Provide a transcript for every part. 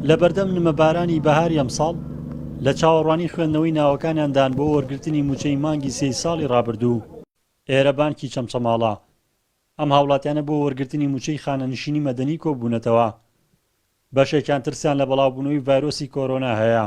لە بەردەم نمەبارانی بەهاری ئەمساڵ لە چاوەڕوانی خوێندنەوەی ناوەکانیاندان بۆ وەرگرتنی موچەی مانگی سێی ساڵی رابردوو ئێرە بانکی چەمچەماڵە ئەم هاوڵاتیانە بۆ وەرگرتنی موچەی خانەنشینی مەدەنی کۆبوونەتەوە بەشێکیان ترسیان لە بەڵاوبوونەوەی ڤایرۆسی کۆرۆنا هەیە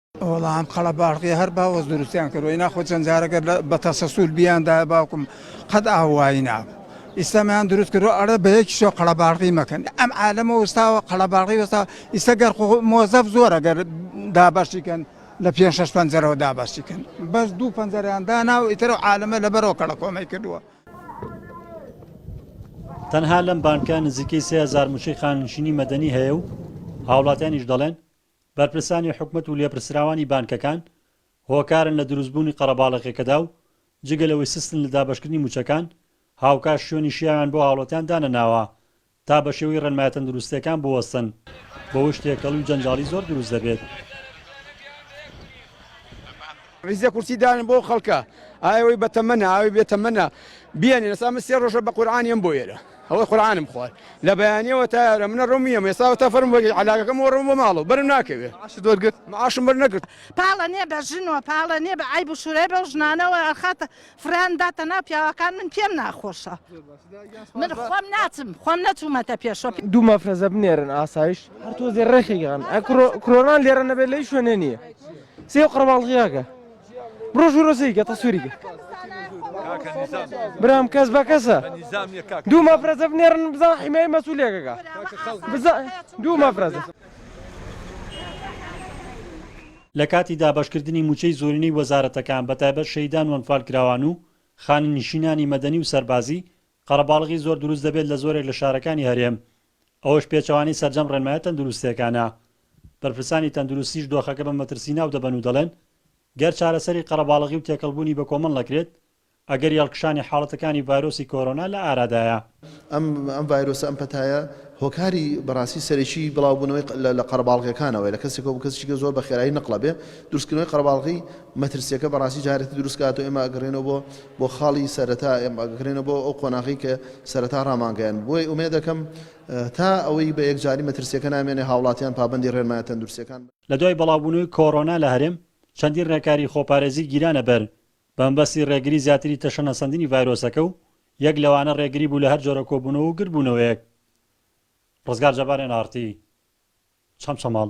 وەڵا ئەم قەڵە باڕقیە هەر باوەز دروستیان کردوە ئینا خۆ چەند جارەگە بە تەسەسول بیاندایە باوکم قەت ئاوایی نابوو ئیسلامیان دروست کردو ئەرە بە یەکیشۆ قەڵە باڕقی مەکەن ئەم عالەمە وەستاوە قەڵە باڕقی وەستا ئیستا گەر مۆزەف زۆرە گەر دابەشی کەن لە پێ شش پەنجەرەوە دابەشی کەن بەس دوو پەنجەریان دانا و ئیترە عالەمە لەبەرەوە کەڵە کۆمەی کردووە تەنها لەم بانکە نزیکەی سهزار موچەی خاننشینی مەدەنی هەیە و هاوڵاتیانیش دەڵێن بەرپرسانی حکومەت و لێپرسراوانی بانکەکان هۆکارن لە دروستبوونی قەڕەباڵەکێکەدا و جگە لەوەی سستن لە دابەشکردنی مووچەکان، هاوکات شوێنی شیاویان بۆ هاوڵاتیان دانەناوە تا بەشێوەی ڕێنمایە تەندروستییەکان بوەستن، بەوەش تێکەڵی و جەنجاڵی زۆر دروست دەبێت. عیزە کورسی دانن بۆ ئەو خەڵکە ئای ئەوەی بەتەمەنە ئەوەی بێتەمەنە بیانێن ئێستا من سێ ڕۆژە بە قورعان یم بۆ ئێرە ئەوەی قورعانم خوار لە بەیانیەوە تا ئێرە منە ڕۆم یم ئێستا تا فەرم بۆ عەلاگەکەم بۆ ڕۆم بۆ ماڵەوە بەرم ناکەوێ معاشت وەرگرت معاشم بەرنەکرد پاڵە نییە بە ژن و پاڵە نییە بە عەیب و شورەی بەو ژنانەوە ئەخاتە فڕێیان داتە ناو پیاوەکان من پێم ناخۆشە من خۆم ناچم خۆم نەچوومەتە پێشۆ. دوو مەفرەزە بنێرن ئاسایش هەر تۆزێ ڕێخی گەڕن ئە کرۆنان لێرە نەبێت لەی شوێنێ نییە سێ قڕباڵغیاکە بڕۆ ژوورۆ سیکە تەسووریکە برام کەس بە کەسە دوو مەفرەزە بنێرن بزان حیمای مەسوولێکەکە دوو مەفرەزە لە کاتی دابەشکردنی مووچەی زۆرینەی وەزارەتەکان بە تایبەت شەهیدان و ئەنفالکراوان و خانەنشینانی مەدەنی و سەربازی، قەرەباڵغی زۆر دروست دەبێت لە زۆرێک لە شارەکانی هەرێم، ئەوەش پێچەوانەی سەرجەم ڕێنمایە تەندروستێکانە. بەرپرسانی تەندروستیش دۆخەکە بە مەترسی ناودەبەن و دەڵێن، گەر چارەسەری قەرەباڵغی و تێکەڵبوونی بەکۆمەڵ نەکرێت، ئەگەری هەڵکشانی حاڵەتەکانی ڤایرۆسی کۆرۆنا لە ئارادایە. ئەم ڤایرۆسە ئەم پەتایە هۆکاری بەڕاستی سەرەکی بڵاوبوونەوەی لە قەرەباڵغیەکانەوەیە لە کەسێکەوە بۆ کەسیکە زۆر بە خێرایی نقلە بێ دروستکردنەوەی قەرەباڵغی مەترسیەکە بەڕاستی جارێتی دروست کاتەوە ئێمە ئەگەڕێنەوە بۆ بۆ خاڵی سەرەتا ئێمە ئەگەڕێنەوە بۆ ئەو قۆناغی کە سەرەتا ڕامانگەیاند بۆی ئومێد دەکەم تا ئەوەی بە یەکجاری مەترسیەکە نامێنێ هاوڵاتیان پابەندی ڕێنمایە تەندروستیەکان لە دوای بڵاوبوونەوەی کۆرۆنا لە هەرێم چەندین ڕێکاری خۆپارێزی گیرانە بەر بەمەبەستی ڕێگری زیاتری تەشەنەسەندنی ڤایرۆسەکە و یەک لەوانە ڕێگری بوو لە هەر جۆرە کۆبوونەوە و گردبوونەوەیەک. ڕزگار جەبار ئێن ئاڕ تی چەمچەماڵ.